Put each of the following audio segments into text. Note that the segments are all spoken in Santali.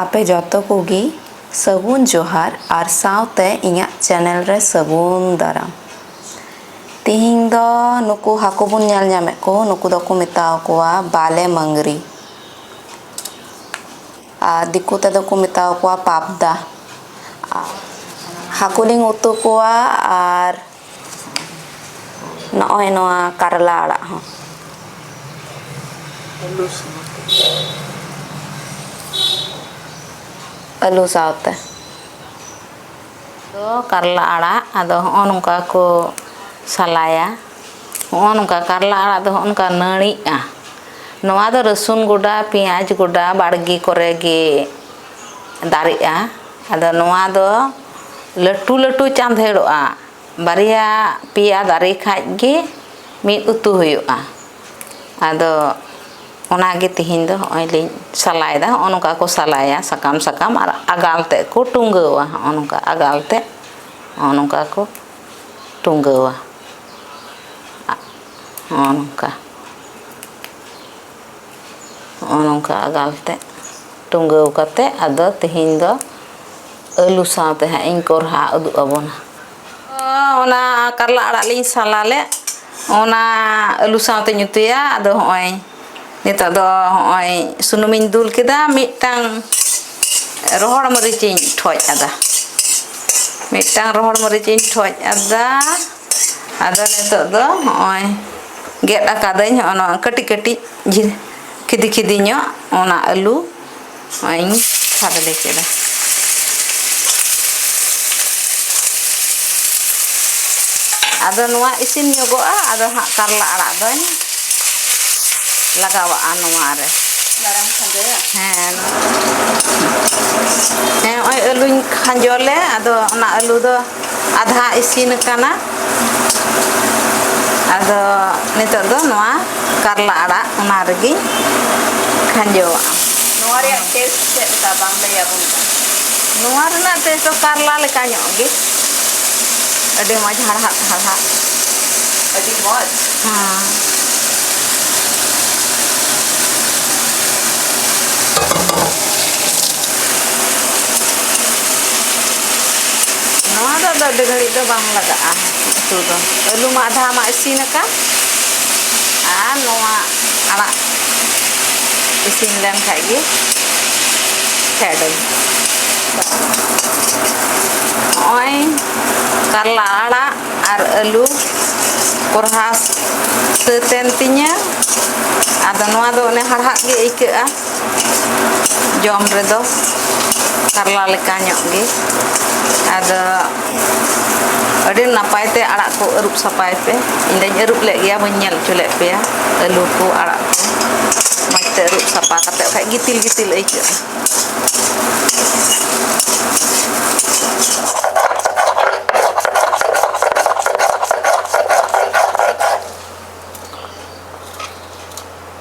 ᱟᱯᱮ ᱡᱚᱛᱚ ᱠᱚᱜᱮ ᱥᱟᱹᱜᱩᱱ ᱡᱚᱦᱟᱨ ᱟᱨ ᱥᱟᱶᱛᱮ ᱤᱧᱟᱹᱜ ᱪᱮᱱᱮᱞ ᱨᱮ ᱥᱟᱹᱜᱩᱱ ᱫᱟᱨᱟᱢ ᱛᱮᱦᱮᱧ ᱫᱚ ᱱᱩᱠᱩ ᱦᱟᱹᱠᱩ ᱵᱚᱱ ᱧᱮᱞ ᱧᱟᱢᱮᱫ ᱠᱚ ᱱᱩᱠᱩ ᱫᱚᱠᱚ ᱢᱮᱛᱟ ᱠᱚᱣᱟ ᱵᱟᱞᱮ ᱢᱟᱹᱝᱜᱽᱨᱤ ᱟᱨ ᱫᱤᱠᱩ ᱛᱮᱫᱚ ᱠᱚ ᱢᱮᱛᱟ ᱠᱚᱣᱟ ᱯᱟᱵᱽᱫᱟ ᱦᱟᱹᱠᱩ ᱞᱤᱧ ᱩᱛᱩ ᱠᱚᱣᱟ ᱟᱨ ᱱᱚᱜᱼᱚᱭ ᱱᱚᱣᱟ ᱠᱟᱨᱞᱟ ᱟᱲᱟᱜ ᱦᱚᱸ ᱟᱹᱞᱩ ᱥᱟᱶᱛᱮ ᱟᱹᱞᱩ ᱥᱟᱶᱛᱮ ᱫᱚ ᱠᱟᱨᱞᱟ ᱟᱲᱟᱜ ᱟᱫᱚ ᱦᱚᱸᱜᱼᱚ ᱱᱚᱝᱠᱟ ᱠᱚ ᱥᱟᱞᱟᱭᱟ ᱦᱚᱸᱜᱼᱚ ᱱᱚᱝᱠᱟ ᱠᱟᱨᱞᱟ ᱟᱲᱟᱜ ᱫᱚ ᱦᱚᱸᱜᱼᱚ ᱱᱚᱝᱠᱟ ᱱᱟᱹᱲᱤᱜᱼᱟ ᱱᱚᱣᱟ ᱫᱚ ᱨᱟᱹᱥᱩᱱ ᱜᱚᱰᱟ ᱯᱮᱸᱭᱟᱡᱽ ᱜᱚᱰᱟ ᱵᱟᱲᱜᱮ ᱠᱚᱨᱮ ᱜᱮ ᱫᱟᱨᱮᱜᱼᱟ ᱟᱫᱚ ᱱᱚᱣᱟ ᱫᱚ ᱞᱟᱹᱴᱩ ᱞᱟᱹᱴᱩ ᱪᱟᱸᱫᱷᱮᱲᱚᱜᱼᱟ ᱵᱟᱨᱭᱟ ᱯᱮᱭᱟ ᱫᱟᱨᱮ ᱠᱷᱟᱱ ᱜᱮ ᱢᱤᱫ ᱩᱛᱩ ᱦᱩᱭᱩᱜᱼᱟ ᱟᱫᱚ ᱚᱱᱟ ᱜᱮ ᱛᱮᱦᱮᱧ ᱫᱚ ᱱᱚᱜᱼᱚᱭ ᱞᱤᱧ ᱥᱟᱞᱟᱭᱮᱫᱟ ᱱᱚᱜᱼᱚᱭ ᱱᱚᱝᱠᱟ ᱠᱚ ᱥᱟᱞᱟᱭᱟ ᱥᱟᱠᱟᱢ ᱥᱟᱠᱟᱢ ᱟᱨ ᱟᱜᱟᱞ ᱛᱮᱫ ᱠᱚ ᱴᱩᱝᱜᱟᱹᱣᱟ ᱱᱚᱜᱼᱚᱭ ᱱᱚᱝᱠᱟ ᱟᱜᱟᱞ ᱛᱮᱫ ᱱᱚᱜᱼᱚᱭ ᱱᱚᱝᱠᱟ ᱠᱚ ᱴᱩᱝᱜᱟᱹᱣᱟ ᱱᱚᱜᱼᱚᱭ ᱱᱚᱝᱠᱟ ᱱᱚᱜᱼᱚᱭ ᱱᱚᱝᱠᱟ ᱟᱜᱟᱞ ᱛᱮᱫ ᱴᱩᱝᱜᱟᱹᱣ ᱠᱟᱛᱮᱫ ᱟᱫᱚ ᱛᱮᱦᱮᱧ ᱫᱚ ᱟᱹᱞᱩ ᱥᱟᱶᱛᱮ ᱦᱟᱸᱜ ᱤᱧ ᱠᱚᱨᱦᱟ ᱩᱫᱩᱜ ᱟᱵᱚᱱᱟ ᱚᱱᱟ ᱠᱟᱨᱞᱟ ᱟᱲᱟᱜ ᱞᱤᱧ ᱥᱟᱞᱟ ᱞᱮᱫ ᱚᱱᱟ ᱟᱹᱞᱩ ᱥᱟᱶᱛᱮᱧ ᱩᱛᱩᱭᱟ ᱟᱫᱚ ᱦᱚᱸᱜᱼᱚᱭ ᱱᱤᱛᱚᱜ ᱫᱚ ᱦᱚᱸᱜᱼᱚᱭ ᱥᱩᱱᱩᱢᱤᱧ ᱫᱩᱞ ᱠᱮᱫᱟ ᱢᱤᱫᱴᱟᱝ ᱨᱚᱦᱚᱲ ᱢᱟᱹᱨᱤᱪ ᱤᱧ ᱴᱷᱚᱡ ᱟᱫᱟ ᱢᱤᱫᱴᱟᱝ ᱨᱚᱦᱚᱲ ᱢᱟᱹᱨᱤᱪ ᱤᱧ ᱴᱷᱚᱡ ᱟᱫᱟ ᱟᱫᱚ ᱱᱤᱛᱚᱜ ᱫᱚ ᱦᱚᱸᱜᱼᱚᱭ ᱜᱮᱫ ᱟᱠᱟᱫᱟᱹᱧ ᱦᱚᱸᱜᱼᱚ ᱱᱚᱣᱟ ᱠᱟᱹᱴᱤᱡ ᱠᱟᱹᱴᱤᱡ ᱠᱷᱤᱫᱤ ᱠᱷᱤᱫᱤ ᱧᱚᱜ ᱚᱱᱟ ᱟᱹᱞᱩ ᱱᱚᱜᱼᱚᱭᱤᱧ ᱠᱷᱟᱫᱽᱞᱮ ᱠᱮᱫᱟ ᱟᱫᱚ ᱱᱚᱣᱟ ᱤᱥᱤᱱ ᱧᱚᱜᱚᱜᱼᱟ ᱟᱫᱚ ᱦᱟᱸᱜ ᱠᱟᱨᱞᱟ ᱟᱲᱟᱜ ᱫᱚᱧ ᱞᱟᱜᱟᱣᱟᱜᱼᱟ ᱱᱚᱣᱟ ᱨᱮ ᱢᱟᱨᱟᱝ ᱠᱷᱟᱸᱡᱚᱭᱟ ᱦᱮᱸ ᱦᱮᱸ ᱱᱚᱜᱼᱚᱭ ᱟᱹᱞᱩᱧ ᱠᱷᱟᱸᱡᱚ ᱞᱮ ᱟᱫᱚ ᱚᱱᱟ ᱟᱹᱞᱩ ᱫᱚ ᱟᱫᱷᱟ ᱤᱥᱤᱱ ᱟᱠᱟᱱᱟ ᱟᱫᱚ ᱱᱤᱛᱚᱜ ᱫᱚ ᱱᱚᱣᱟ ᱠᱟᱨᱞᱟ ᱟᱲᱟᱜ ᱚᱱᱟ ᱨᱮᱜᱮᱧ ᱠᱷᱟᱸᱡᱚᱣᱟᱜᱼᱟ ᱱᱚᱣᱟ ᱨᱮᱭᱟᱜ ᱴᱮᱥᱴ ᱪᱮᱫ ᱞᱮᱠᱟ ᱵᱟᱝ ᱞᱟᱹᱭ ᱟᱵᱚᱱ ᱠᱟᱱᱟ ᱱᱚᱣᱟ ᱨᱮᱱᱟᱜ ᱴᱮᱥᱴ ᱫᱚ ᱠᱟᱨᱞᱟ ᱞᱮᱠᱟ ᱧᱚᱜ ᱜᱮ ᱟᱹᱰᱤ ᱢᱚᱡᱽ ᱦᱟᱲᱦᱟᱫ ᱦᱟᱲᱦᱟᱫ ᱟᱹᱰᱤ ᱢᱚᱡᱽ ᱦᱮᱸ ᱱᱚᱣᱟ ᱫᱚ ᱟᱫᱚ ᱟᱹᱰᱤ ᱜᱷᱟᱹᱲᱤᱡ ᱫᱚ ᱵᱟᱝ ᱞᱟᱜᱟᱜᱼᱟ ᱩᱛᱩ ᱫᱚ ᱟᱹᱞᱩ ᱢᱟ ᱟᱫᱷᱟ ᱢᱟ ᱤᱥᱤᱱ ᱟᱠᱟᱱ ᱟᱨ ᱱᱚᱣᱟ ᱟᱲᱟᱜ ᱤᱥᱤᱱ ᱞᱮᱱ ᱠᱷᱟᱡ ᱜᱮ ᱯᱷᱮᱰᱟᱹᱧ ᱱᱚᱜᱼᱚᱭ ᱠᱟᱨᱞᱟ ᱟᱲᱟᱜ ᱟᱨ ᱟᱹᱞᱩ ᱠᱚᱨᱦᱟ ᱥᱟᱹᱛ ᱮᱱ ᱛᱤᱧᱟᱹ ᱟᱫᱚ ᱱᱚᱣᱟ ᱫᱚ ᱚᱱᱮ ᱦᱟᱲᱦᱟᱫ ᱜᱮ ᱟᱹᱭᱠᱟᱹᱜᱼᱟ ᱡᱚᱢ ᱨᱮᱫᱚ ᱠᱟᱨᱞᱟ ᱞᱮᱠᱟ ᱧᱚᱜ ᱜᱮ ᱟᱫᱚ ᱟᱹᱰᱤ ᱱᱟᱯᱟᱭ ᱛᱮ ᱟᱲᱟᱜ ᱠᱚ ᱟᱹᱨᱩᱵ ᱥᱟᱯᱷᱟᱭ ᱯᱮ ᱤᱧ ᱫᱚᱧ ᱟᱹᱨᱩᱵ ᱞᱮᱫ ᱜᱮᱭᱟ ᱵᱟᱹᱧ ᱧᱮᱞ ᱦᱚᱪᱚ ᱞᱮᱫ ᱯᱮᱭᱟ ᱟᱹᱞᱩ ᱠᱚ ᱟᱲᱟᱜ ᱠᱚ ᱢᱚᱡᱽ ᱛᱮ ᱟᱹᱨᱩᱵ ᱥᱟᱯᱷᱟ ᱠᱟᱛᱮ ᱵᱟᱠᱷᱟᱡ ᱜᱤᱛᱤᱞ ᱜᱤᱛᱤᱞ ᱟᱹᱭᱠᱟᱹᱜᱼᱟ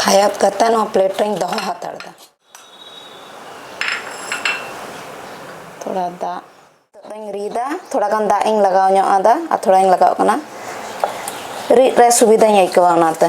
ᱠᱷᱟᱭᱟᱛ ᱠᱟᱛᱮ ᱱᱚᱣᱟ ᱯᱞᱮᱴ ᱨᱮᱧ ᱫᱚᱦᱚ ᱦᱟᱛᱟᱲ ᱫᱟ ᱛᱷᱚᱲᱟ ᱫᱟᱜ ᱫᱚᱧ ᱨᱤᱫᱟ ᱛᱷᱚᱲᱟ ᱜᱟᱱ ᱫᱟᱜ ᱤᱧ ᱞᱟᱜᱟᱣ ᱧᱚᱜ ᱟᱫᱟ ᱟᱨ ᱛᱷᱚᱲᱟᱧ ᱞᱟᱜᱟᱣ ᱠᱟᱱᱟ ᱨᱤᱫ ᱨᱮ ᱥᱩᱵᱤᱫᱟᱧ ᱟᱹᱭᱠᱟᱹᱣᱟ ᱚᱱᱟᱛᱮ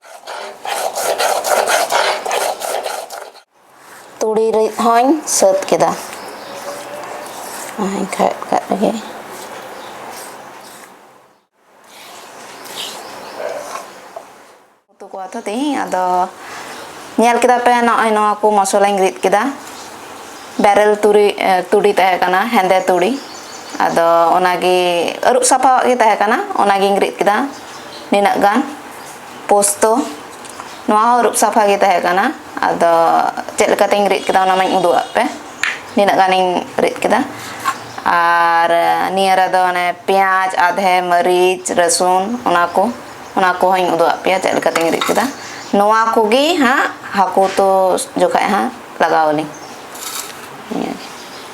ᱛᱩᱲᱤ ᱨᱤᱫ ᱦᱚᱧ ᱥᱟᱹᱛ ᱠᱮᱫᱟ ᱮᱱᱠᱷᱟᱡ ᱠᱟᱜ ᱨᱮᱜᱮ ᱩᱛᱩ ᱠᱚᱣᱟ ᱛᱚ ᱛᱮᱦᱮᱧ ᱟᱫᱚ ᱧᱮᱞ ᱠᱮᱫᱟ ᱯᱮ ᱱᱚᱜᱼᱚᱭ ᱱᱚᱣᱟ ᱠᱚ ᱢᱚᱥᱞᱟᱧ ᱨᱤᱫ ᱠᱮᱫᱟ ᱵᱮᱨᱮᱞ ᱛᱩᱲᱤ ᱛᱩᱲᱤ ᱛᱟᱦᱮᱸ ᱠᱟᱱᱟ ᱦᱮᱸᱫᱮ ᱛᱩᱲᱤ ᱟᱫᱚ ᱚᱱᱟᱜᱮ ᱟᱹᱨᱩᱵ ᱥᱟᱯᱷᱟᱣᱟᱜ ᱜᱮ ᱛᱟᱦᱮᱸ ᱠᱟᱱᱟ ᱚᱱᱟᱜᱤᱧ ᱨᱤᱫ ᱠᱮᱫᱟ ᱱᱤᱱᱟᱹᱜ ᱜᱟᱱ ᱯᱳᱥᱛᱚ ᱱᱚᱣᱟ ᱦᱚᱸ ᱟᱹᱨᱩᱵ ᱥᱟᱯᱷᱟ ᱜᱮ ᱛᱟᱦᱮᱸ ᱠᱟᱱᱟ ᱟᱫᱚ ᱪᱮᱫ ᱞᱮᱠᱟᱛᱤᱧ ᱨᱤᱫ ᱠᱮᱫᱟ ᱚᱱᱟ ᱢᱟᱧ ᱩᱫᱩᱜ ᱟᱫ ᱯᱮ ᱱᱤᱱᱟᱹᱜ ᱜᱟᱱᱤᱧ ᱨᱤᱫ ᱠᱮᱫᱟ ᱟᱨ ᱱᱤᱭᱟᱹ ᱨᱮᱫᱚ ᱚᱱᱮ ᱯᱮᱸᱭᱟᱡᱽ ᱟᱫᱷᱮ ᱢᱟᱹᱨᱤᱪ ᱨᱟᱹᱥᱩᱱ ᱚᱱᱟ ᱠᱚ ᱚᱱᱟ ᱠᱚᱦᱚᱧ ᱩᱫᱩᱜ ᱟᱫ ᱯᱮᱭᱟ ᱪᱮᱫ ᱞᱮᱠᱟᱛᱤᱧ ᱨᱤᱫ ᱠᱮᱫᱟ ᱱᱚᱣᱟ ᱠᱚᱜᱮ ᱦᱟᱸᱜ ᱦᱟᱹᱠᱩ ᱩᱛᱩ ᱡᱚᱠᱷᱚᱡ ᱦᱟᱸᱜ ᱞᱟᱜᱟᱣ ᱟᱹᱞᱤᱧ ᱱᱤᱭᱟᱹᱜᱮ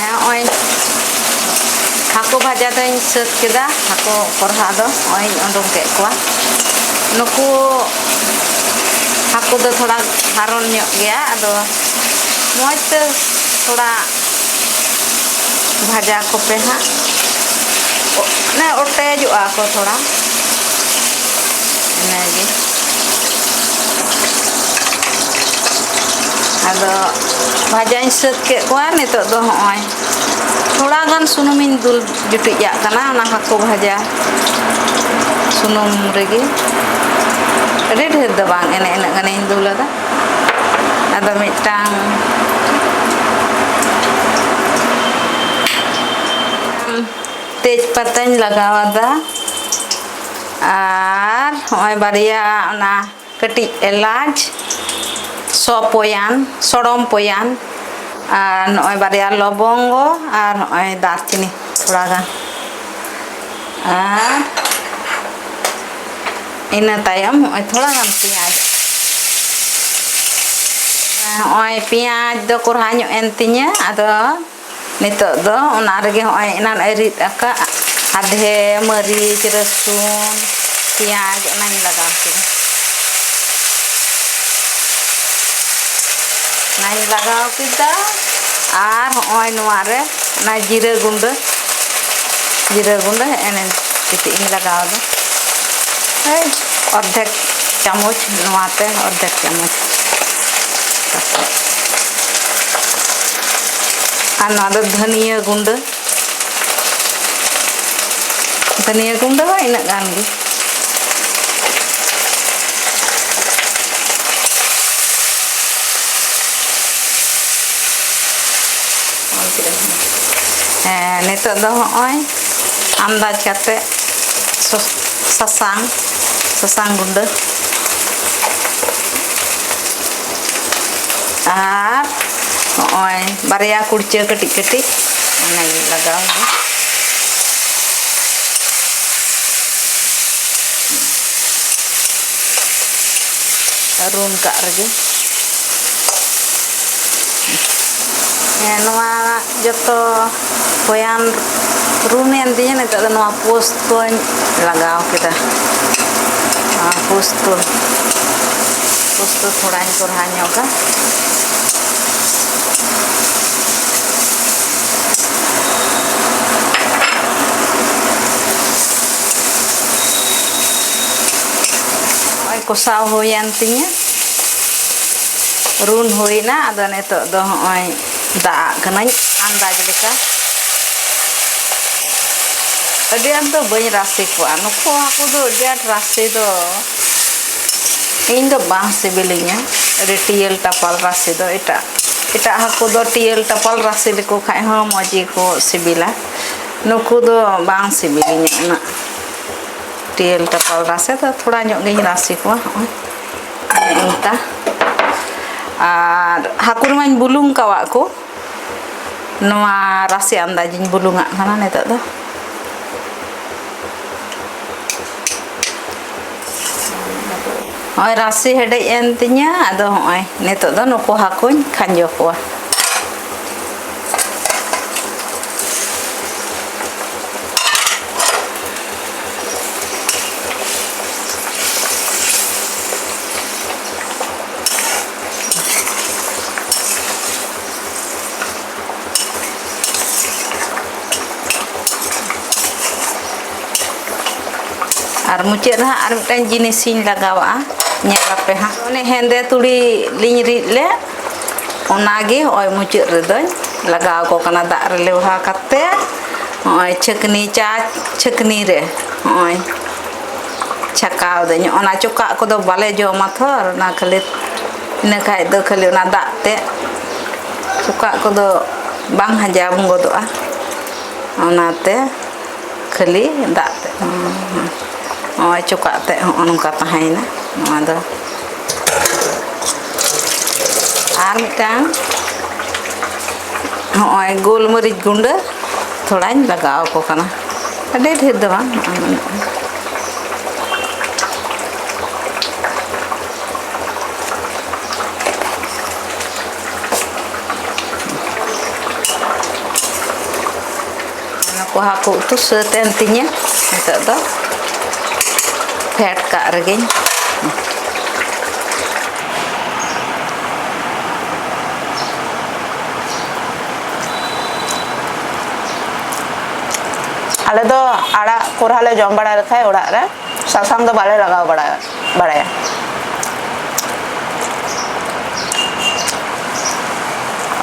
ᱱᱚᱜᱼᱚᱭ ᱦᱟᱹᱠᱩ ᱵᱷᱟᱡᱟ ᱫᱚᱧ ᱥᱟᱹᱛ ᱠᱮᱫᱟ ᱦᱟᱹᱠᱩ ᱠᱚᱨᱦᱟ ᱫᱚ ᱱᱚᱜᱼᱚᱭ ᱩᱰᱩᱝ ᱠᱮᱫ ᱠᱚᱣᱟ ᱱᱩᱠᱩ ᱦᱟᱹᱠᱩ ᱫᱚ ᱛᱷᱚᱲᱟ ᱦᱟᱨᱚᱱ ᱧᱚᱜ ᱜᱮᱭᱟ ᱟᱫᱚ ᱢᱚᱡᱽ ᱛᱮ ᱛᱷᱚᱲᱟ ᱵᱷᱟᱡᱟ ᱠᱚᱯᱮ ᱦᱟᱸᱜ ᱢᱟᱱᱮ ᱚᱴᱮᱡᱚᱜᱼᱟ ᱠᱚ ᱛᱷᱚᱲᱟ ᱤᱱᱟᱹᱜᱮ ᱟᱫᱚ ᱵᱷᱟᱡᱟᱧ ᱥᱟᱹᱛ ᱠᱮᱫ ᱠᱚᱣᱟ ᱱᱤᱛᱚᱜ ᱫᱚ ᱦᱚᱸᱜᱼᱚᱭ ᱛᱷᱚᱲᱟ ᱜᱟᱱ ᱥᱩᱱᱩᱢᱤᱧ ᱫᱩᱞ ᱡᱩᱴᱤᱡᱟᱜ ᱠᱟᱱᱟ ᱚᱱᱟ ᱦᱟᱹᱠᱩ ᱵᱷᱟᱡᱟ ᱥᱩᱱᱩᱢ ᱨᱮᱜᱮ ᱟᱹᱰᱤ ᱰᱷᱮᱨ ᱫᱚ ᱵᱟᱝ ᱮᱱᱮ ᱤᱱᱟᱹᱜ ᱜᱟᱱᱤᱧ ᱫᱩᱞ ᱟᱫᱟ ᱟᱫᱚ ᱢᱤᱫᱴᱟᱝ ᱛᱮᱡᱽ ᱯᱟᱛᱟᱧ ᱞᱟᱜᱟᱣ ᱟᱫᱟ ᱟᱨ ᱦᱚᱸᱜᱼᱚᱭ ᱵᱟᱨᱭᱟ ᱚᱱᱟ ᱠᱟᱹᱴᱤᱡ ᱮᱞᱟᱪ ᱥᱚ ᱯᱚᱭᱟᱱ ᱥᱚᱲᱚᱢ ᱯᱚᱭᱟᱱ ᱟᱨ ᱱᱚᱜᱼᱚᱭ ᱵᱟᱨᱭᱟ ᱞᱚᱵᱚᱝᱜᱚ ᱟᱨ ᱱᱚᱜᱼᱚᱭ ᱫᱟᱨᱪᱤᱱᱤ ᱛᱷᱚᱲᱟ ᱜᱟᱱ ᱟᱨ ᱤᱱᱟᱹ ᱛᱟᱭᱚᱢ ᱱᱚᱜᱼᱚᱭ ᱛᱷᱚᱲᱟ ᱜᱟᱱ ᱯᱮᱸᱭᱟᱡᱽ ᱱᱚᱜᱼᱚᱭ ᱯᱮᱸᱭᱟᱡᱽ ᱫᱚ ᱠᱚᱨᱦᱟ ᱧᱚᱜ ᱮᱱ ᱛᱤᱧᱟᱹ ᱟᱫᱚ ᱱᱤᱛᱚᱜ ᱫᱚ ᱚᱱᱟ ᱨᱮᱜᱮ ᱦᱚᱸᱜᱼᱚᱭ ᱮᱱᱟᱱ ᱮ ᱨᱤᱫ ᱟᱠᱟᱫ ᱟᱫᱷᱮ ᱢᱟᱹᱨᱤᱪ ᱨᱟᱹᱥᱩᱱ ᱯᱮᱸᱭᱟᱡᱽ ᱚᱱᱟᱧ ᱞᱟᱜᱟᱣ ᱠᱮᱫᱟ ᱚᱱᱟᱧ ᱞᱟᱜᱟᱣ ᱠᱮᱫᱟ ᱟᱨ ᱦᱚᱸᱜᱼᱚᱭ ᱱᱚᱣᱟ ᱨᱮ ᱚᱱᱟ ᱡᱤᱨᱟᱹ ᱜᱩᱸᱰᱟᱹ ᱡᱤᱨᱟᱹ ᱜᱩᱸᱰᱟᱹ ᱮᱱᱮ ᱠᱟᱹᱴᱤᱡ ᱤᱧ ᱞᱟᱜᱟᱣ ᱮᱫᱟ ᱚᱨᱫᱷᱮᱠ ᱪᱟᱢᱚᱪ ᱱᱚᱣᱟᱛᱮ ᱚᱨᱫᱷᱮᱠ ᱪᱟᱢᱚᱪ ᱟᱨ ᱱᱚᱣᱟ ᱫᱚ ᱫᱷᱟᱹᱱᱤᱭᱟᱹ ᱜᱩᱸᱰᱟᱹ ᱫᱷᱟᱹᱱᱤᱭᱟᱹ ᱜᱩᱸᱰᱟᱹ ᱦᱚᱸ ᱤᱱᱟᱹᱜ ᱜᱟᱱ ᱜᱮ ᱦᱮᱸ ᱱᱤᱛᱚᱜ ᱫᱚ ᱦᱚᱸᱜᱼᱚᱭ ᱟᱱᱫᱟᱡᱽ ᱠᱟᱛᱮᱫ ᱥᱟᱥᱟᱝ sa saan gundo. ᱟᱨ ᱱᱚᱜᱼᱚᱭ ᱵᱟᱨᱭᱟ ᱠᱩᱲᱪᱟᱹ ᱠᱟᱹᱴᱤᱡ ᱠᱟᱹᱴᱤᱡ ᱚᱱᱟᱜᱮ ᱞᱟᱜᱟᱣ ᱫᱚ ᱨᱩᱱ ᱠᱟᱜ ᱨᱮᱜᱮ ᱦᱮᱸ ᱱᱚᱣᱟ ᱡᱚᱛᱚ ᱦᱚᱭᱟᱱ ᱨᱩᱢ ᱮᱱ ᱛᱤᱧᱟᱹ ᱱᱤᱛᱚᱜ ᱫᱚ ᱱᱚᱣᱟ ᱯᱳᱥᱴ ᱠᱚᱧ ᱞᱟᱜᱟᱣ ᱠᱮᱫᱟ ᱱᱚᱣᱟ ᱯᱳᱥᱴ ᱠᱚ ᱯᱳᱥᱴ ᱠᱚ ᱛᱷᱚᱲᱟᱧ ᱠᱚᱨᱦᱟ ᱧᱚᱜᱟ ᱠᱚᱥᱟᱣ ᱦᱩᱭᱮᱱ ᱛᱤᱧᱟᱹ ᱨᱩᱱ ᱦᱩᱭᱱᱟ ᱟᱫᱚ ᱱᱤᱛᱚᱜ ᱫᱚ ᱦᱚᱸᱜᱼᱚᱭ ᱫᱟᱜ ᱠᱟᱹᱱᱟᱹᱧ ᱟᱱᱫᱟᱡᱽ ᱞᱮᱠᱟ ᱟᱹᱰᱤ ᱟᱸᱴ ᱫᱚ ᱵᱟᱹᱧ ᱨᱟᱥᱮ ᱠᱚᱣᱟ ᱱᱩᱠᱩ ᱦᱟᱹᱠᱩ ᱫᱚ ᱟᱹᱰᱤ ᱟᱸᱴ ᱨᱟᱥᱮ ᱫᱚ ᱤᱧ ᱫᱚ ᱵᱟᱝ ᱥᱤᱵᱤᱞᱤᱧᱟ ᱟᱹᱰᱤ ᱴᱤᱭᱟᱹᱞ ᱴᱟᱯᱟᱞ ᱨᱟᱥᱮ ᱫᱚ ᱮᱴᱟᱜ ᱮᱴᱟᱜ ᱦᱟᱹᱠᱩ ᱫᱚ ᱴᱤᱭᱟᱹᱞ ᱴᱟᱯᱟᱞ ᱨᱟᱥᱮ ᱞᱮᱠᱚ ᱠᱷᱟᱱ ᱦᱚᱸ ᱢᱚᱡᱽ ᱜᱮᱠᱚ ᱥᱤᱵᱤᱞᱟ ᱱᱩᱠᱩ ᱫᱚ ᱵᱟᱝ ᱥᱤᱵᱤᱞᱤᱧᱟ ᱩᱱᱟᱹᱜ ᱴᱤᱭᱟᱹᱞ ᱴᱟᱯᱟᱞ ᱨᱟᱥᱮ ᱫᱚ ᱛᱷᱚᱲᱟ ᱧᱚᱜ ᱜᱤᱧ ᱨᱟᱥᱮ ᱠᱚᱣᱟ ᱦᱚᱸᱜᱼᱚᱭ ᱱᱚᱝᱠᱟ ᱟᱨ ᱦᱟᱹᱠᱩ ᱨᱮᱢᱟᱧ ᱵᱩᱞᱩᱝ ᱠᱟᱣᱟᱜ ᱠᱚ ᱱᱚᱣᱟ ᱨᱟᱥᱮ ᱟᱱᱫᱟᱡᱤᱧ ᱵᱩᱞᱩᱝᱟᱜ ᱠᱟᱱᱟ ᱱᱤᱛᱚᱜ ᱫᱚ ᱱᱚᱜᱼᱚᱭ ᱨᱟᱥᱮ ᱦᱮᱰᱮᱡ ᱮᱱ ᱛᱤᱧᱟᱹ ᱟᱫᱚ ᱱᱚᱜᱼᱚᱭ ᱱᱤᱛᱚᱜ ᱫᱚ ᱱᱩᱠᱩ ᱦᱟᱹᱠᱩᱧ ᱠᱷᱟᱸᱡᱚ ᱠᱚᱣᱟ ᱟᱨ ᱢᱩᱪᱟᱹᱫ ᱨᱮ ᱦᱟᱸᱜ ᱟᱨ ᱢᱤᱫᱴᱟᱝ ᱡᱤᱱᱤᱥᱤᱧ ᱞᱟᱜᱟᱣᱟᱜᱼᱟ ᱧᱮᱞ ᱟᱯᱮ ᱦᱟᱸᱜ ᱚᱱᱮ ᱦᱮᱸᱫᱮ ᱛᱩᱲᱤ ᱞᱤᱧ ᱨᱤᱫ ᱞᱮᱫ ᱚᱱᱟᱜᱮ ᱱᱚᱜᱼᱚᱭ ᱢᱩᱪᱟᱹᱫ ᱨᱮᱫᱚᱧ ᱞᱟᱜᱟᱣ ᱟᱠᱚ ᱠᱟᱱᱟ ᱫᱟᱜ ᱨᱮ ᱞᱮᱣᱦᱟ ᱠᱟᱛᱮᱫ ᱱᱚᱜᱼᱚᱭ ᱪᱷᱟᱹᱠᱱᱤ ᱪᱟ ᱪᱷᱟᱹᱠᱱᱤ ᱨᱮ ᱱᱚᱜᱼᱚᱭ ᱪᱷᱟᱠᱟᱣ ᱫᱟᱹᱧ ᱚᱱᱟ ᱪᱚᱠᱟᱜ ᱠᱚᱫᱚ ᱵᱟᱞᱮ ᱡᱚᱢᱟ ᱛᱷᱚ ᱚᱱᱟ ᱠᱷᱟᱹᱞᱤ ᱤᱱᱟᱹ ᱠᱷᱟᱡ ᱫᱚ ᱠᱷᱟᱹᱞᱤ ᱚᱱᱟ ᱫᱟᱜ ᱛᱮᱫ ᱪᱚᱠᱟᱜ ᱠᱚᱫᱚ ᱵᱟᱝ ᱦᱟᱡᱟᱢ ᱜᱚᱫᱚᱜᱼᱟ ᱚᱱᱟᱛᱮ ᱠᱷᱟᱹᱞᱤ ᱫᱟᱜ ᱛᱮᱫ ᱱᱚᱜᱼᱚᱭ ᱪᱚᱠᱟᱜ ᱛᱮᱫ ᱦᱚᱸᱜᱼᱚ ᱱᱚᱝᱠᱟ ᱛᱟᱦᱮᱸᱭᱮᱱᱟ ᱱᱚᱣᱟ ᱫᱚ ᱟᱨ ᱢᱤᱫᱴᱟᱝ ᱦᱚᱸᱜᱼᱚᱭ ᱜᱳᱞᱢᱟᱹᱨᱤᱪ ᱜᱩᱸᱰᱟᱹ ᱛᱷᱚᱲᱟᱧ ᱞᱟᱜᱟᱣ ᱟᱠᱚ ᱠᱟᱱᱟ ᱟᱹᱰᱤ ᱰᱷᱮᱨ ᱫᱚ ᱵᱟᱝ ᱠᱚ ᱦᱟᱹᱠᱩ ᱩᱛᱩ ᱥᱟᱹᱛ ᱮᱱ ᱛᱤᱧᱟᱹ ᱱᱤᱛᱚᱜ ᱫᱚ ᱯᱷᱮᱰ ᱠᱟᱜ ᱨᱮᱜᱮᱧ ᱟᱞᱮ ᱫᱚ ᱟᱲᱟᱜ ᱠᱚᱨᱦᱟ ᱞᱮ ᱡᱚᱢ ᱵᱟᱲᱟ ᱞᱮᱠᱷᱟᱡ ᱚᱲᱟᱜ ᱨᱮ ᱥᱟᱥᱟᱝ ᱫᱚ ᱵᱟᱞᱮ ᱞᱟᱜᱟᱣ ᱵᱟᱲᱟ ᱵᱟᱲᱟᱭᱟ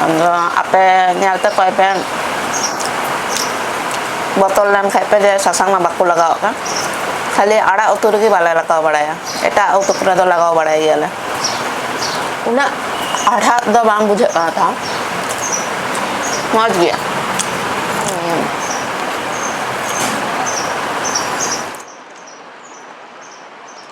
ᱟᱫᱚ ᱟᱯᱮ ᱧᱮᱞ ᱛᱮ ᱠᱚᱭ ᱯᱮ ᱵᱚᱛᱚᱨ ᱞᱮᱱ ᱠᱷᱟᱡ ᱯᱮ ᱡᱮ ᱥᱟᱥᱟᱝ ᱢᱟ ᱵᱟᱠᱚ ᱞᱟᱜᱟᱣᱟᱜ ᱠᱟᱱ ᱠᱷᱟᱹᱞᱤ ᱟᱲᱟᱜ ᱩᱛᱩ ᱨᱮᱜᱮ ᱵᱟᱞᱮ ᱞᱟᱜᱟᱣ ᱵᱟᱲᱟᱭᱟ ᱮᱴᱟᱜ ᱩᱛᱩ ᱠᱚᱨᱮ ᱫᱚ ᱞᱟᱜᱟᱣ ᱵᱟᱲᱟᱭ ᱜᱮᱭᱟᱞᱮ ᱩᱱᱟᱹᱜ ᱦᱟᱲᱦᱟᱫ ᱫᱚ ᱵᱟᱝ ᱵᱩᱡᱷᱟᱹᱜ ᱠᱟᱱᱟ ᱛᱟᱣ ᱢᱚᱡᱽ ᱜᱮᱭᱟ